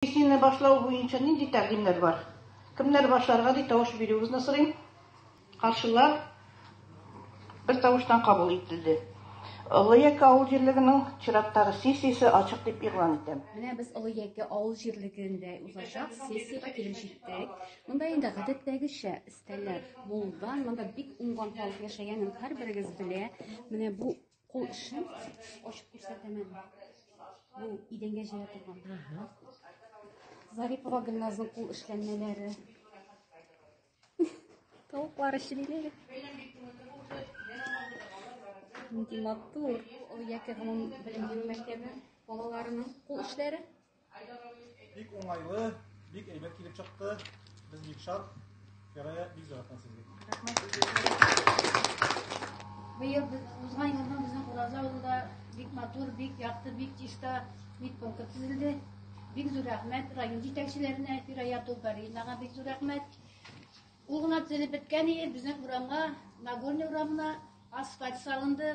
Песняне башлау буенча нинди тәкъдимнәр бар? Кемнәр башларга дип тавыш бирүегезне сорыйм. Каршылар бертавыштан кабул ителде. Олы Яке авыл җирлегенең чираттагы сессиясе ачык дип игълан итәм. Менә без Олы Яке авыл җирлегендә узачак сессиягә килеп җиттек. Монда инде гадәттәгечә өстәлләр булган. Монда бик уңган халык яшәгәнен һәрберегез белә. Менә бу Кул эшен ачып күрсәтәмен. Бу идәнгә җыя торган. Зарипова Гөлназның кул эшләнмәләре. Тавыклар эшлиләр. Нинди матур. Ул яки гомум белем бирү мәктәбе балаларының кул эшләре. Бик уңайлы, бик әйбәт килеп чыкты. Без бик шат. Ярая бик заратан сезгә. Быел узган елдан безнең Ураза авылында бик матур, бик якты, бик чиста, бик конкурс төзелде. Бик зур рәхмәт район җитәкчеләренә, Фирая Тулбаринага бик зур рәхмәт. Ул гына төзелеп беткән иде, безнең урамга, Нагорный урамына асфальт салынды.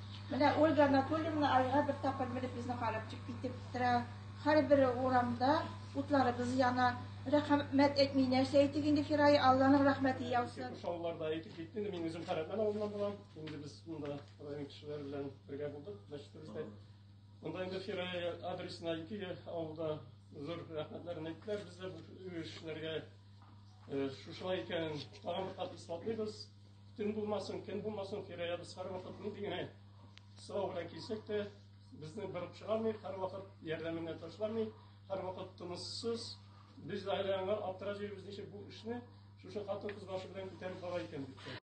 Менә Ольга Анатольевна айга бер тапкыр менеп безне карап чыгып китеп тора. Һәрбер урамда утларыбыз яна. Рәхмәт әйтми нәрсә әйтик инде, Фирая, Алланың рәхмәте яусын. Шауларда әйтеп китте, инде мин үзем Хәрәтлән авылыннан булам. Инде без монда район кешеләре белән бергә булдык, мәчетебездә. Монда инде Фирая адресына ике авылда зур рәхмәтләрен әйттеләр. Без дә бу эшләргә шушылай икәнен тагын бер кат исбатлыйбыз. Төн булмасын, көн булмасын, тирә-ягыбыз һәрвакыт нинди генә сау белән килсәк тә, безне борып чыгармый, һәрвакыт ярдәменә ташламый, һәрвакыт тыныссыз. Без гаилә аңа аптырап йөрибез, ничек бу эшне шушы хатын-кыз башы белән күтәреп бара икән дип.